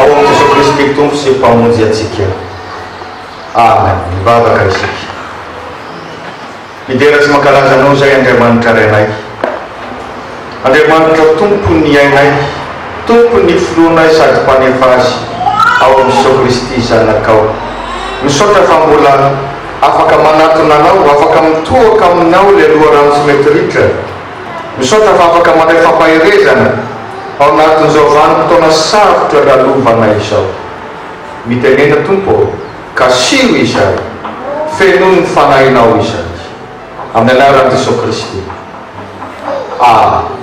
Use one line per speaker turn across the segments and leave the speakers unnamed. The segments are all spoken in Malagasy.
Ao amin'i Jesoa Kristy Tompo sy Mpamonjy antsika. Amen. Mivavaka isika. Midera sy mankalaza Anao izay Andriamanitra Rainay. Andriamanitra Tompon'ny ainay, Tompon'ny Filohanay sady Mpanefa azy, ao amin'i Jesoa Kristy Zanakao. Misaotra fa mbola afaka manatona Anao, afaka mitohoka Aminao ilay loharano tsy mety ritra. Misaotra fa afaka mandray fampaherezana ao anatin'izao vanim-potoana sarotra lalovana izao. Mitenena Tompo ô, kasiho izahay, fenoy ny Fanahinao izahay. Amin'ny anaran'i Jesoa Kristy. Amen.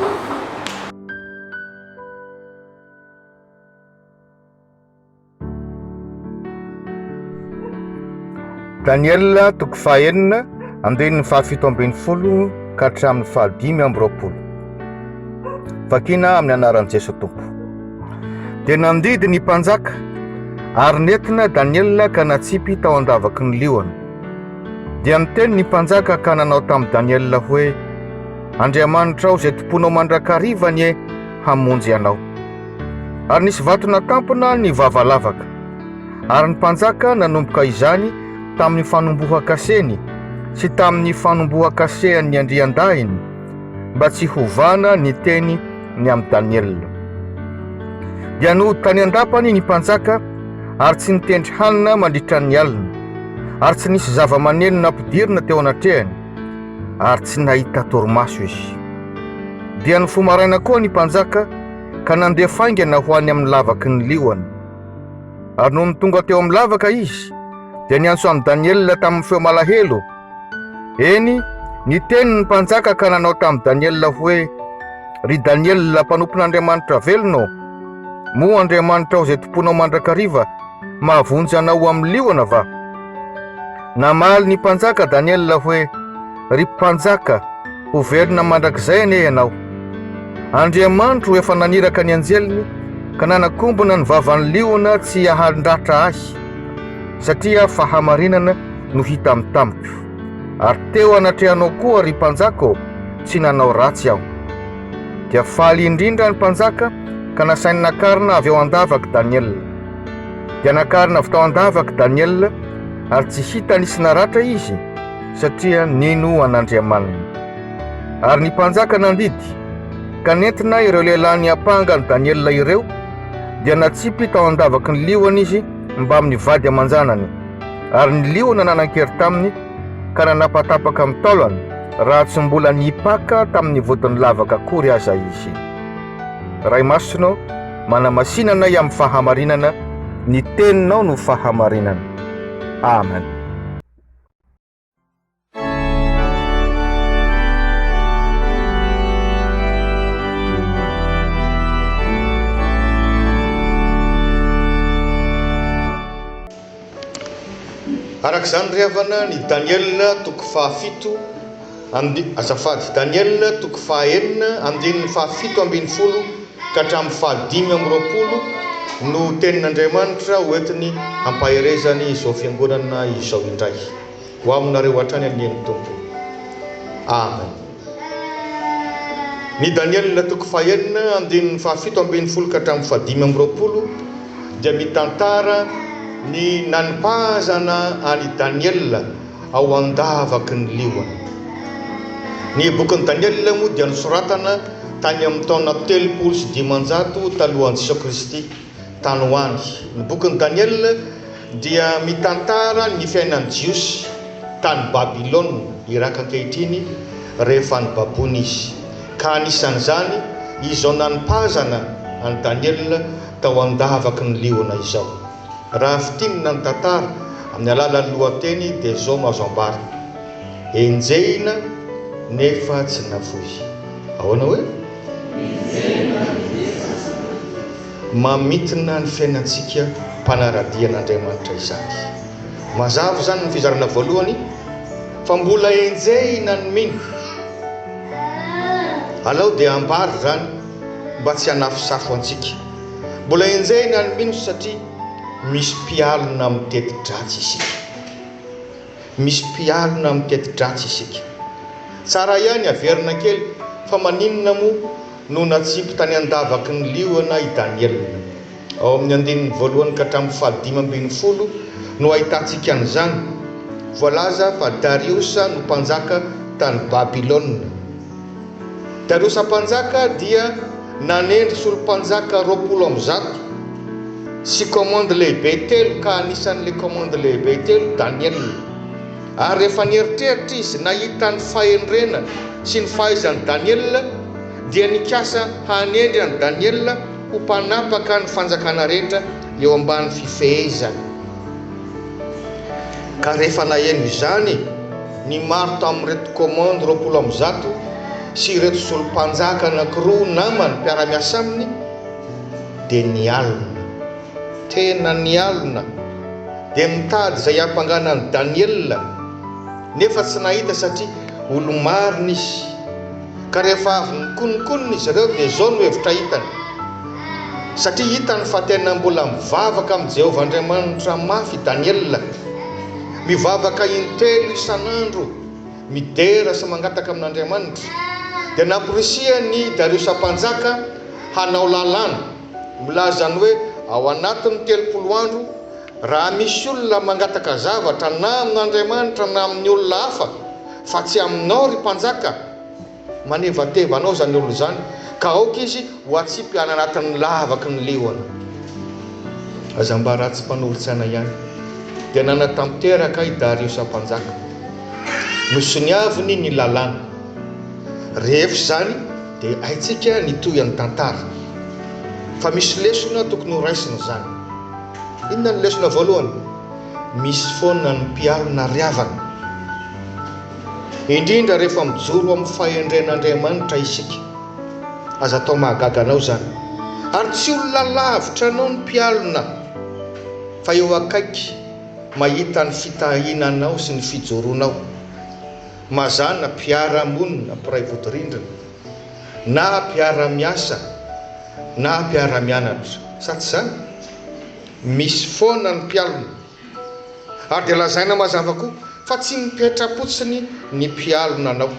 Daniela toko fahenina andininy fahafito ambin'ny folo ka hatramin'ny fahadimy amby roapolo. Vakina amin'ny anaran'i Jesoa Tompo. Dia nandidy ny mpanjaka ary nentina Daniela ka natsipy tao an-davaky ny liona. Dia niteny ny mpanjaka ka nanao tamin'i Daniela hoe Andriamanitrao izay tomponao mandrakariva anie hamonjy anao. Ary nisy vato natampina ny vava lavaka, ary ny mpanjaka nanomboka izany tamin'ny fanombohan-kaseny sy tamin'ny fanombohan-kasehan'ny andriandahiny, mba tsy hovana ny teny ny amin'i Daniela. Dia nody tany an-dapany ny mpanjaka, ary tsy nitendry hanina mandritra ny alina, ary tsy nisy zava-maneno nampidirina teo anatrehany, ary tsy nahita torimaso izy. Dia nifoha maraina koa ny mpanjaka, ka nandeha faingana ho any amin'ny lavaky ny liona. Ary nony tonga teo amin'ny lavaka izy, dia niantso an'i Daniela tamin'ny feo malahelo, eny, niteny ny mpanjaka ka nanao tamin'i Daniela hoe, Ry Daniela, mpanompon'Andriamanitra velona ô, moa Andriamanitrao izay tompoinao mandrakariva mahavonjy anao ho amin'ny liona va? Namaly ny mpanjaka Daniela hoe, Ry Mpanjaka, ho velona mandrakizay anie ianao. Andriamanitro efa naniraka ny anjeliny ka nanakombona ny vavan'ny liona tsy hiahandratra ahy, satria fahamarinana no hita amin'ny tamiko. Ary teo anatrehanao koa, ry Mpanjaka ô, tsy nanao ratsy aho. Dia faly indrindra ny Mpanjaka ka nasainy nakarina avy ao an-davak'i Daniela. Dia nakarina avy tao an-davak'i Daniela, ary tsy hita nisy naratra izy, satria nino an'Andriamaniny. Ary ny mpanjaka nandidy, ka nentina ireo lehilahy niampanga an'i Daniela ireo, dia natsipy tao an-davaky ny liona izy mbamin'ny vady aman-janany, ary ny liona nanan-kery taminy, ka nanapatapaka amin'ny taolany, raha tsy mbola nipaka tamin'ny vodin'ny lavaka akory aza izy. Ray Masina, manamasina anay amin'ny fahamarinana, ny teninao no fahamarinana. Amen.
Araka izany ry havana, ny Daniela toko fahafito. And. Azafady. Daniel toko faha enina andininy faha fito ambin'ny folo ka hatramin'ny faha dimy amby roapolo no tenin' Andriamanitra hoentiny hampaherezany izao fiangonana izao indray. Ho aminareo hatrany anie ny Tompo. Amen. Ny Daniel toko faha enina andininy faha fito ambin'ny folo ka hatramin'ny faha dimy amby roapolo dia mitantara ny nanipahazana an' i Daniel ao an-davaky ny liona. Ny bokin'i Daniela moa dia nosoratana tany amin'ny taona telopolo sy dimanjato talohan'i Jesoa Kristy tany ho any. Ny bokin'i Daniela dia mitantara ny fiainan'ny Jiosy tany Babylona, Iraka ankehitriny, rehefa nibaboina izy, ka anisan'izany izao nanipazana an'i Daniela tao an-davaky ny liona izao. Raha fintinina ny tantara amin'ny alalan'ny lohateny dia izao no azo ambara, Enjehina nefa tsy nafoy. Ahoana hoe? Enjehina nefa tsy nafoy. Mamintina ny fiainantsika mpanara-dia an'Andriamanitra izany. Mazava izany amin'ny fizarana voalohany fa mbola enjehina ny mino. Alao dia ambara izany mba tsy hanafosafo antsika. Mbola enjehina ary mino satria misy mpialona mitety dratsy isika. Misy mpialona mitety dratsy isika. Tsara ihany averina kely fa maninona moa no natsipy tany an-davaky ny liona i Daniela? Ao amin'ny andininy voalohany ka hatramin'ny fahadimy ambin'ny folo no ahitantsika an'izany. Voalaza fa Dariosa no mpanjaka tany Babylona. Dario Mpanjaka dia nanendry solo-mpanjaka roapolo amby zato sy commande lehibe telo ka anisan'ilay commande lehibe telo Daniel. Ary rehefa nieritreritra izy nahita ny fahendrena sy ny fahaizan'i Daniel dia nikasa hanendry an'i Daniel ho mpanapaka ny fanjakana rehetra eo ambany fifehezany. Ka rehefa naheno izany. Ny maro tamin'ireto commande roapolo amby zato sy ireto solompanjaka anankiroa namany mpiara-miasa aminy dia nialona. Tena nialona. Dia mitady izay hampangana an'i Daniela nefa tsy nahita satria olo-marina izy. Ka rehefa avy nikonokonona izy ireo dia izao no hevitra hitany, Satria hitany fa tena mbola mivavaka amin'i Jehovah Andriamanitra mafy i Daniela, Mivavaka intelo isan'andro, midera sy mangataka amin'Andriamanitra. Dia namporisihan'i Dariosa Mpanjaka hanao lalàna milaza ny hoe ao anatin'ny telopolo andro, raha misy olona mangataka zavatra na amin'Andriamanitra na amin'ny olona hafa, fa tsy aminao, ry mpanjaka, Manevateva anao izany olona izany, ka aoka izy ho atsipy any anatin'ny lavaky ny liona. Aza mba ratsy mpanorin-tsaina ihany. Dia nanatanteraka i Dariosa Mpanjaka. Nosoniaviny ny lalàna. Rehefa izany, dia haintsika ny tohin'ny tantara. Fa misy lesona tokony ho raisina izany. Inona no lesona voalohany? Misy foana ny mpiaro nariavana. indrindra rehefa mijoro amin'ny fahendren'Andriamanitra isika. Aza atao mahagaga anao izany. Ary tsy olona lavitra anao ny mpialona, fa eo akaiky, mahita ny fitahiana anao sy ny fijoroanao. Mazàna, mpiara-monina, mpiray vodirindrina, na mpiara-miasa, na mpiara-mianatra, sa tsy izany? Misy foana ny mpialona. Ary dia lazaina mazava koa fa tsy mipetra-potsiny ny mpialona anao.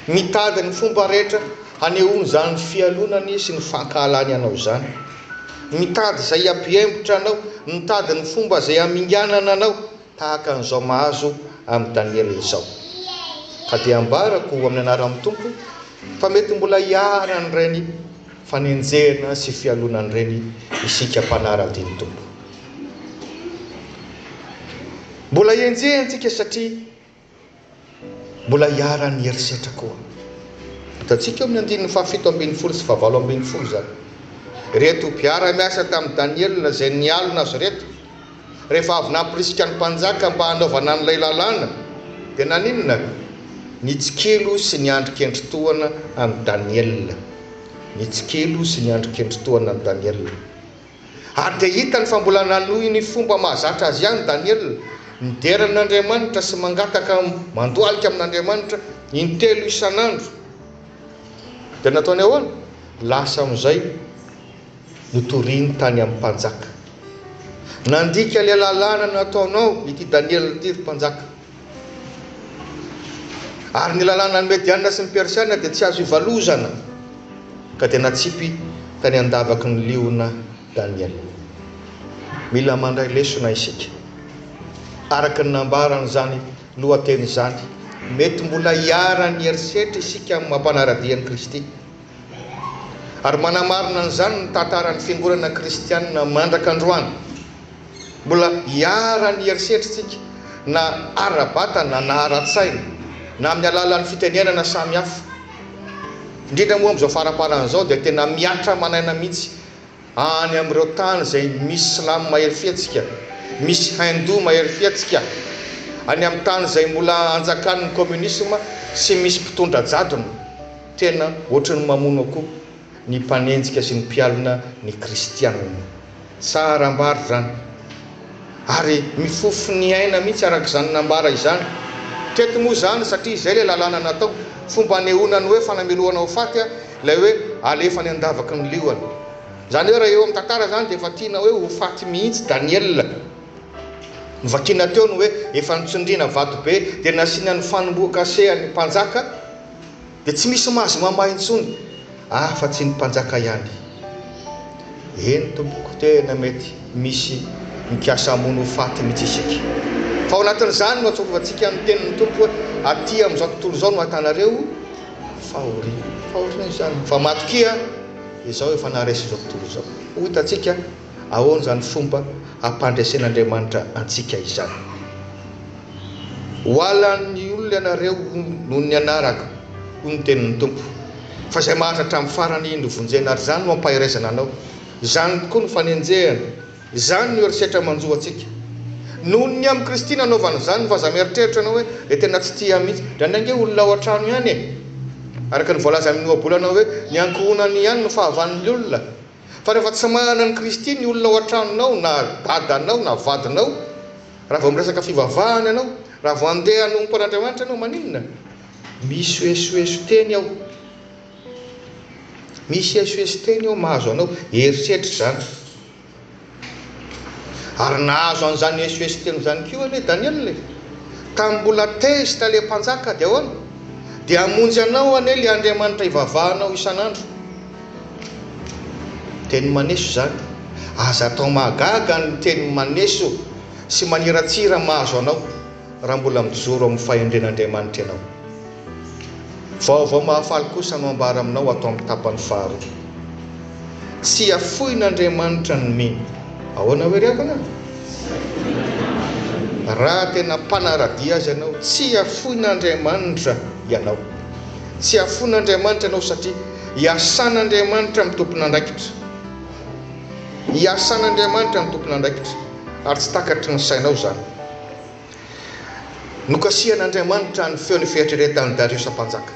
Mitady ny fomba rehetra hanehoany izany fialonany sy ny fankahalany anao izany. Mitady izay hampihemotra anao, mitady ny fomba izay haminganana anao, tahaka an'izao mahazo an'i Daniela izao. Ka dia ambarako amin'ny anaran'ny Tompo fa mety mbola hiharan'ireny. fanenjehana sy fialonan'ireny isika mpanara-dia ny Tompo. Mbola henjehintsika satria mbola iharan'ny herisetra koa. Hitantsika eo amin'ny andininy fahafito ambin'ny folo sy fahavalo ambin'ny folo izany. Ireto mpiara-miasa tamin'i Daniela izay nialona azy ireto. rehefa avy nampirisika ny mpanjaka mba hanaovana an'ilay lalàna, dia naninona? Nitsikilo sy niandry kendry tohana an'i Daniela. Nitsikilo sy niandry kendry tohana an'i Daniela. Ary dia hitany fa mbola nanohy ny fomba mahazatra azy ihany Daniela, midera an'Andriamanitra sy mangataka mandohalika amin'Andriamanitra intelo isan'andro. Dia nataony ahoana? Lasa amin'izay. notoriny tany amin'ny mpanjaka. Nandika ilay lalàna nataonao ity Daniela ity, ry mpanjaka. Ary ny lalànan'ny Mediana sy ny Persiana dia tsy azo ivalozana. Ka dia natsipy tany an-davaky ny liona Daniela. Mila mandray lesona isika. Araka ny nambaran'izany lohateny izany, mety mbola hiharan'ny herisetra isika amin'ny maha-mpanara-dia an'i Kristy. Ary manamarina an'izany ny tantaran'ny fiangonana kristianina mandraka androany. Mbola iharan'ny herisetrintsika na ara-batana na ara-tsaina na amin'ny alalan'ny fitenenana samihafa. Indrindra moa amin'izao faraparana izao dia tena mihatra aman'aina mihitsy Any amin'ireo tany izay misy Silamo mahery fihetsika, misy Hindou mahery fihetsika, any amin'ny tany izay mbola anjakan'ny Kominisma sy misy mpitondra jadona, tena ohatran'ny mamono akoho ny mpanenjika sy ny mpialona ny Kristianina. Tsara ambara izany. Ary mifofo ny aina mihitsy araka izany nambara izany. Teto moa izany, satria izay ilay lalàna natao, fomba anehoana ny hoe fanamelohana ho faty ilay hoe alefa any an-davaky ny liona. Izany hoe raha eo amin'ny tantara izany dia efa tiana hoe ho faty mihitsy Daniela. Novakiana teo ny hoe efa notsindriana vato be dia nasiana ny fanombohan-kase an'ny mpanjaka. Dia tsy misy mahazo mamaha intsony afa tsy ny mpanjaka ihany. Eny tompoko tena mety misy mikasa hamono ho faty mihitsy isika. Fa ao anatin'izany no atsarovantsika ny tenin'ny Tompo hoe aty amin'izao tontolo izao no ahitanareo fahoriana. Fahoriana izany fa matokia izao efa naharesy izao tontolo izao. Ho hitantsika. Ahoana izany fomba hampandresen'Andriamanitra antsika izany? Ho halan'ny olona ianareo noho ny anarako, hoy ny tenin'ny Tompo, fa izay mahantra hatramin'ny farany no vonjena, ary izany no hampaherezana anao. Izany tokoa no fanenjehana, izany no herisetra manjo antsika. Noho ny amin'i Kristy nanaovana izany, fa aza mieritreritra ianao hoe dia tena tsy tia mihitsy. Indraindray ange olona ao an-trano ihany e! Araka ny voalaza amin'ny ohabolana hoe ny ankohonany ihany no fahavalon'ny olona. Fa rehefa tsy manana an'i Kristy ny olona ao an-tranonao na dadanao na vadinao, raha vao miresaka fivavahana ianao, raha vao andeha hanompo an'Andriamanitra ianao, maninona? Misy esoeso teny ao. Misy esoeso teny ao mahazo anao. Eritreritra izany. Ary nahazo an'izany esoeso telo izany koa anie Daniela e! Tamin'ny mbola tezitra ilay mpanjaka dia ahoana? Dia hamonjy anao anie ilay Andriamanitra ivavahanao isan'andro. Teny maneso izany. Aza atao mahagaga ny teny maneso sy maniratsira mahazo anao. Raha mbola mijoro amin'ny fahendren'Andriamanitra ianao, vaovao mahafaly kosa no ambara aminao ato amin'ny tapany faharoa. Tsy hafoin'Andriamanitra ny mino. Ahoana hoy ry havana? Raha tena mpanara-dia Azy ianao, tsy hafoin'Andriamanitra ianao. Tsy hafoin'Andriamanitra ianao satria iasan'Andriamanitra amin'ny tompon'andraikitra. Iasan'Andriamanitra amin'ny tompon'andraikitra ary tsy takatry ny sainao izany. Nokasihan'Andriamanitra ny feon'ny fieritreretan'i Dariosa Mpanjaka.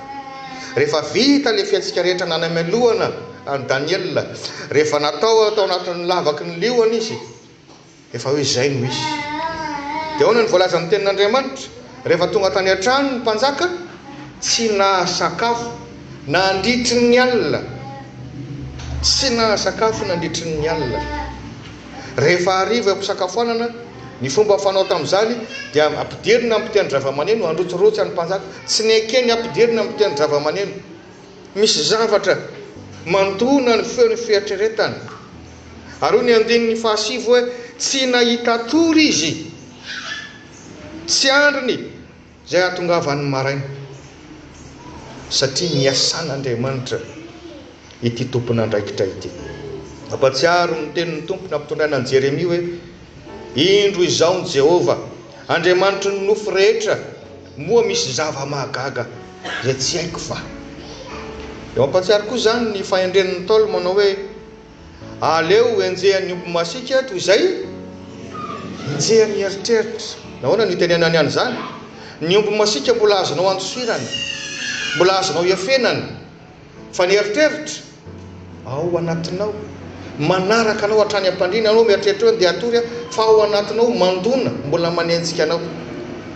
Rehefa vita ilay fihetsika rehetra nanamelohana an'i Daniela, rehefa natao tao anatin'ny lavaky ny liona izy, efa hoe izay no izy. Dia ahoana no voalazan'ny Tenin'Andriamanitra? Rehefa tonga tany an-trano ny mpanjaka, tsy nahasakafo nandritry ny alina. Tsy nahasakafo nandritry ny alina. Rehefa hariva eo am-pisakafoanana, ny fomba fanao tamin'izany dia ampidirina amin'ny fitenin-dravamaneno, Androtsirotsy an'i Mpanjaka. Tsy neken' i Ampidirina amin'ny fitenin-dravamaneno. Misy zavatra mandona ny feon'ny fieritreretany. Ary hoy ny andininy fahasivy hoe, Tsy nahita tory izy. Tsy andriny. Izay hahatongavan'ny maraina, satria niasan'Andriamanitra ity tompon'andraikitra ity. Mampahatsiaro ny tenin'ny Tompo nampitondraina an'i Jeremia hoe, Indro izao ny Jehovah, Andriamanitry ny nofo rehetra, moa misy zava-mahagaga izay tsy haiko va? Dia mampahatsiaro koa izany ny fahendren'ny Ntaolo manao hoe, Aleo henjehan'ny omby masiaka toy izay henjehan'ny eritreritra. Nahoana no itenenany an'izany? Ny omby masiaka mbola azonao andosirana, mbola azonao iafenana, fa ny eritreritra ao anatinao, manaraka anao hatrany am-pandriana. Ianao mieritreritra hoe handeha hatory aho, fa ao anatinao mandona, mbola manenjika anao.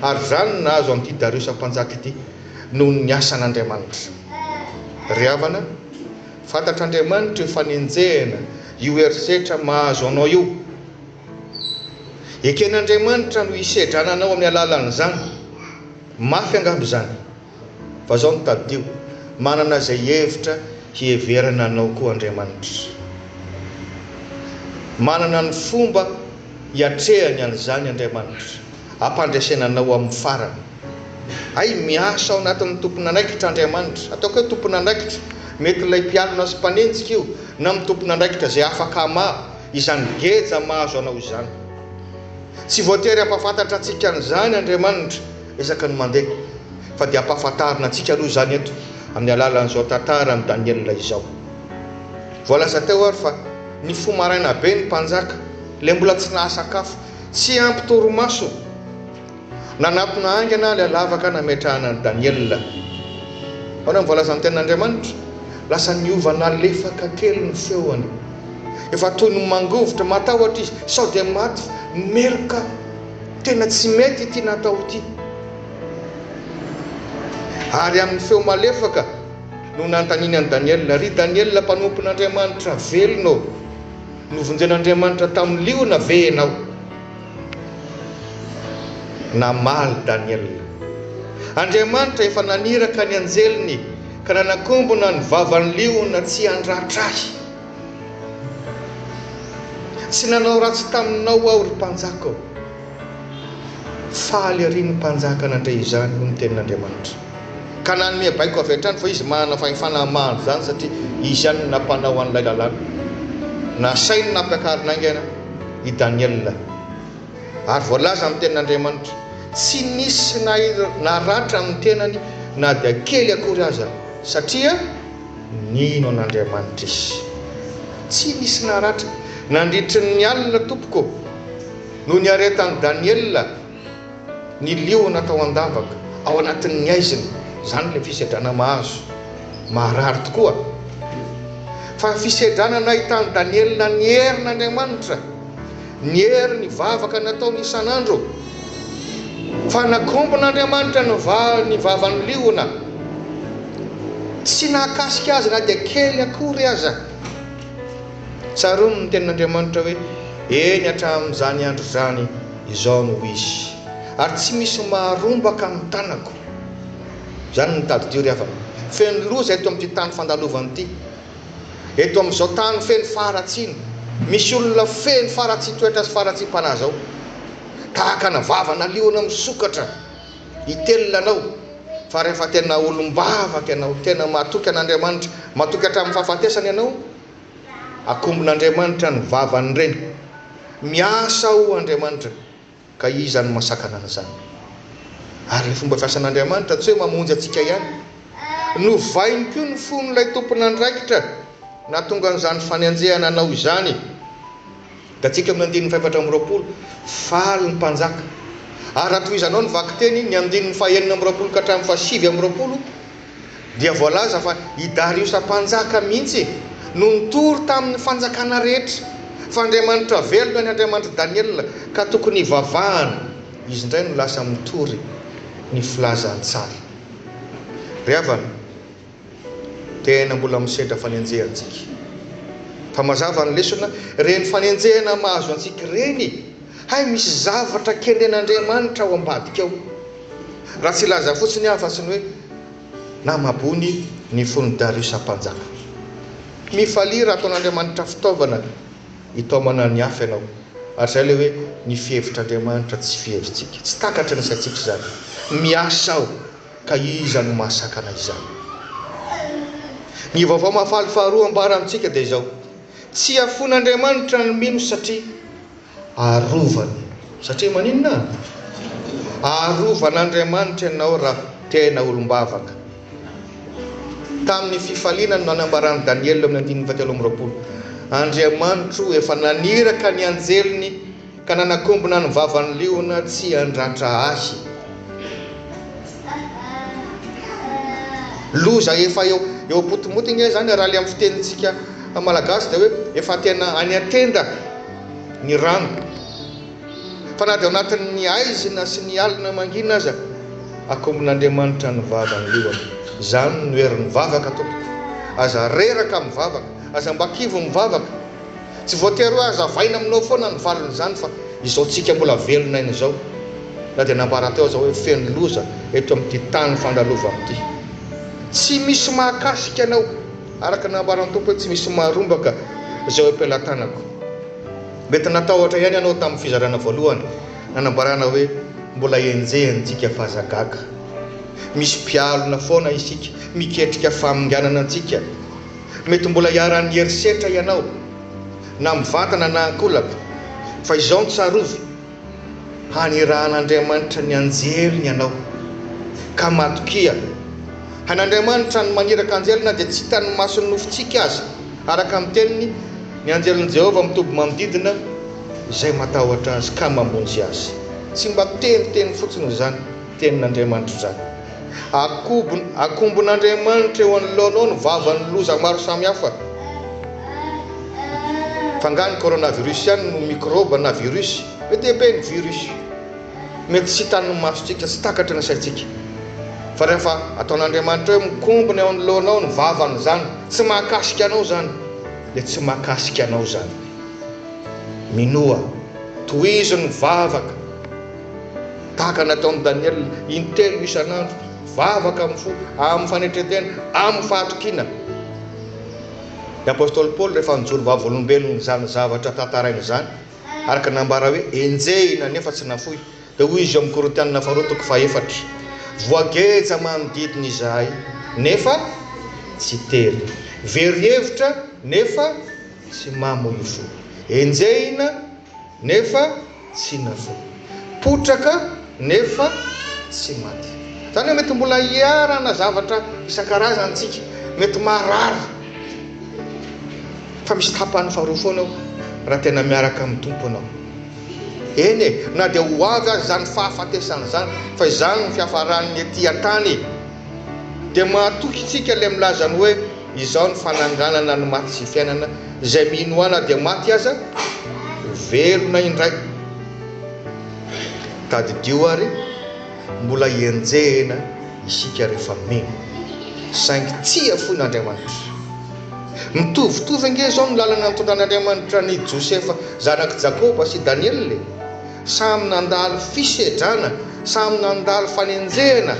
Ary izany no nahazo an'ity Dariosa Mpanjaka ity, noho ny asan'Andriamanitra. Ry havana, Fantatr'Andriamanitra io fanenjehana, io herisetra mahazo anao io. Eken'Andriamanitra no hisedrana anao amin'ny alalan'izany. Mafy angamba izany. Fa izao no tadidio, manana izay hevitra hiheverana anao koa Andriamanitra. Manana ny fomba hiatrehany an'izany Andriamanitra, hampandresena anao amin'ny farany. Hay miasa ao anatin'ny tompon'andraikitra Andriamanitra. Ataoko hoe tompon'andraikitra, mety ilay mpialona sy mpanenjika io, na amin'ny tompon'andraikitra izay afaka hamaha izany geja mahazo anao izany. Tsy voatery hampahafantatra antsika an'izany Andriamanitra isaky ny mandeha, fa dia ampahafantarina antsika aloha izany eto amin'ny alalan'izao tantara an'i Daniela izao. Voalaza teo ary fa nifoha maraina be ny mpanjaka, ilay mbola tsy nahasakafo, tsy ampy torimaso. Nanatona haingana ilay lavaka nametrahana an'i Daniela. Ahoana no voalazan'ny Tenin'Andriamanitra? Lasa niova nalefaka kely ny feony. Efa toy ny mangovitra, matahotra izy, sao dia maty meloka. Tena tsy mety ity natao ity. Ary amin'ny feo malefaka no nanontaniany an'i Daniela, Ry Daniela mpanompon'Andriamanitra, velona ô? Novonjen'Andriamanitra tamin'ny liona ve ianao? Namaly Daniela. Andriamanitra efa naniraka ny anjeliny ka nanakombona ny vavan'ny liona tsy handratra ahy. Tsy nanao ratsy taminao aho, ry mpanjaka ô. Faly ery ny mpanjaka nandre izany, hoy ny tenin'Andriamanitra. ka nanome baiko avy hatrany fa izy manana fahefana mahandro izany satria izy ihany no nampanao an'ilay lalàna. Nasainy nampiakarina haingana i Daniela. Ary voalaza amin'ny Tenin'Andriamanitra, Tsy nisy naratra amin'ny tenany na dia kely akory aza, satria nino an'Andriamanitra izy. Tsy nisy naratra. Nandritry ny alina, tompoko, no niaretan'i Daniela. Ny liona atao an-davaka ao anatin'ny haizina, izany ilay fisedrana mahazo. Maharary tokoa. Fa fisedrana nahitan'i Daniela ny herin'Andriamanitra, ny hery ny vavaka nataony isan'andro. Fa nakombon'Andriamanitra ny vavan'ny liona. Tsy nahakasika azy na dia kely akory aza. Tsaroany ny tenin'Andriamanitra hoe, Eny hatramin'izany andro izany. Izao no izy, ary tsy misy maharombaka ny tanako. Izany no tadidio ry havana. Feno loza eto amin'ity tany fandalovana ity. Eto amin'izao tany feno faharatsiana, misy olona feno faharatsian-toetra sy faharatsiam-panahy izao. Tahaka ana vava naliona misokatra hitelina anao, fa rehefa tena olom-bavaka ianao, tena matoky an'Andriamanitra, matoky hatramin'ny fahafatesana ianao, Akombon'Andriamanitra ny vavan'ireny. Miasa ao Andriamanitra ka iza no masakana an'izany? Ary ny fomba fiasan'Andriamanitra tsy hoe mamonjy antsika ihany. Novainy koa ny fon'ilay tompon'andraikitra nahatonga an'izany fanenjehana anao izany. Gatsika amin'ny andininy fahefatra amby roapolo, Faly ny mpanjaka. Ary raha tohizanao ny vakiteny, ny andininy fahenina amby roapolo ka hatramin'ny fahasivy amby roapolo, dia voalaza fa i Dariosa mpanjaka mihitsy no nitory tamin'ny fanjakana rehetra fa Andriamanitra velona ny Andriamanitr'i Daniela ka tokony hivavahana, izy indray no lasa mitory ny filazantsara. Ry havana. Tena mbola misedra fanenjehana tsika. Fa mazava ny lesona, reny fanenjehana mahazo antsika ireny, hay misy zavatra kendren'Andriamanitra ao ambadika ao. Raha tsy hilaza fotsiny aho afa-tsy ny hoe, namabony ny fon'i Dariusa mpanjaka. Mifalia raha ataon'Andriamanitra fitaovana hitaomana ny hafa ianao. Ary izay ilay hoe, ny fihevitr'Andriamanitra tsy fihevitsika. Tsy takatry ny saintsika izany. Miasa aho. Ka iza no mahasakana izany? Ny Vaovao Mahafaly faharoa ambara amintsika dia izao, Tsy hafoin'Andriamanitra ny mino satria arovany. Satria maninona? Arovan'Andriamanitra ianao raha tena olom-bavaka. Tamin'ny fifaliana no nanambaran'i Daniela eo amin'ny andininy fahatelo amby roapolo, Andriamanitro efa naniraka ny anjeliny, Ka nanakombona ny vavan'ny liona tsy handratra ahy. Loza efa eo eo am-potomoty ange izany raha ilay amin'ny fitenintsika malagasy dia hoe efa tena any an-tenda ny rano. Fa na dia ao anatin'ny haizina sy ny alina mangina aza, akombon'Andriamanitra ny vavan'ny liona. Izany no herin'ny vavaka tompoko. Aza reraka mivavaka. Aza mba kivy mivavaka. Tsy voatery hoe hazavaina aminao foana ny valin'izany fa izao tsika mbola velona aina izao na dia nambara teo aza hoe feno loza eto amin'ity tany fandalovana ity. Tsy misy mahakasika anao araka ny nambaran'ny Tompo hoe tsy misy maharombaka izay eo am-pelatanako. Mety natahotra ihany ianao tamin'ny fizarana voalohany na nambarana hoe mbola henjehintsika f'aza gaga. Misy mpialona foana isika, miketrika faminganana antsika. Mety mbola iharan'ny herisetra ianao, na mivantana na ankolaka, fa izao no tsarovy, Hanirahan'Andriamanitra ny anjeliny ianao. Ka matokia, hain'Andriamanitra ny maniraka anjely na dia tsy hitan'ny mason'ny nofontsika aza. Araka ny Teniny, ny anjelin'i Jehovah mitoby manodidina izay matahotra azy ka mamonjy azy. Tsy mba teniteny fotsiny izany. Tenin'Andriamanitra izany. Akombon'Andriamanitra eo anoloanao ny vavan'ny loza maro samihafa. F'angaha ny coronavirus ihany no mikrôba na virus? Mety ebe ny virus. Mety tsy hitan'ny masontsika, tsy takatry ny saintsika. Fa rehefa ataon'Andriamanitra hoe mikombona eo anoloanao ny vavan'izany, tsy mahakasika anao izany, dia tsy mahakasika anao izany. Minoa. Tohizo ny vavaka. Tahaka ny nataon'i Daniela, intelo isan'andro, vavaka amin'ny fo, amin'ny fanetren-tena, amin'ny fahatokiana. Ny apostoly Paoly, rehefa nijoro vavolombelona izany zavatra tantaraina izany, araka ny nambara hoe enjehina nefa tsy nafoy, dia hoy izy ao amin'ny Korintianina Faharoa toko fahefatra, Voageja manodidina izahay, nefa tsy tery, very hevitra, nefa tsy mamo io fo, enjehina, nefa tsy navoa. Potraka nefa tsy maty. Izany hoe mety mbola hiharana zavatra isan-karazany isika, mety marary, fa misy tapany faharoa foana eo raha tena miaraka amin'ny Tompo ianao. Eny e, na dia ho avy aza izany fahafatesana izany, fa izany no fiafaran'ny ety an-tany e. Dia mahatoky isika ilay milaza ny hoe. Izao ny fananganana ny maty sy fiainana, izay mino Ahy na dia maty aza, ho velona indray. Tadidio àry, mbola enjehina isika rehefa mino, saingy tsia foana Andriamanitra. Mitovitovy ange izao ny lalana nitondran'Andriamanitra an'i Josefa zanak'i Jakoba sy Daniela e! Samy nandalo fisedrana, samy nandalo fanenjehana.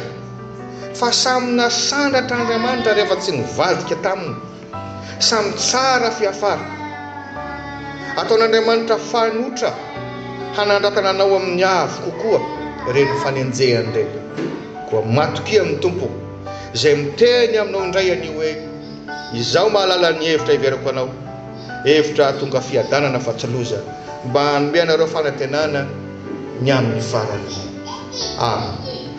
Fa samy nasandratra Andriamanitra rehefa tsy nivadika taminy. Samy tsara fiafara. Ataon'Andriamanitra fanotra hanandratana anao amin'ny avo kokoa ireny fanenjehany ireny. Koa matokia amin'ny Tompo, izay miteny aminao indray anio hoe, Izaho mahalala ny hevitra hiveriko anao, hevitra hahatonga fiadanana fa tsy loza, mba hanome anareo fanantenana ny amin'ny farany. Amena.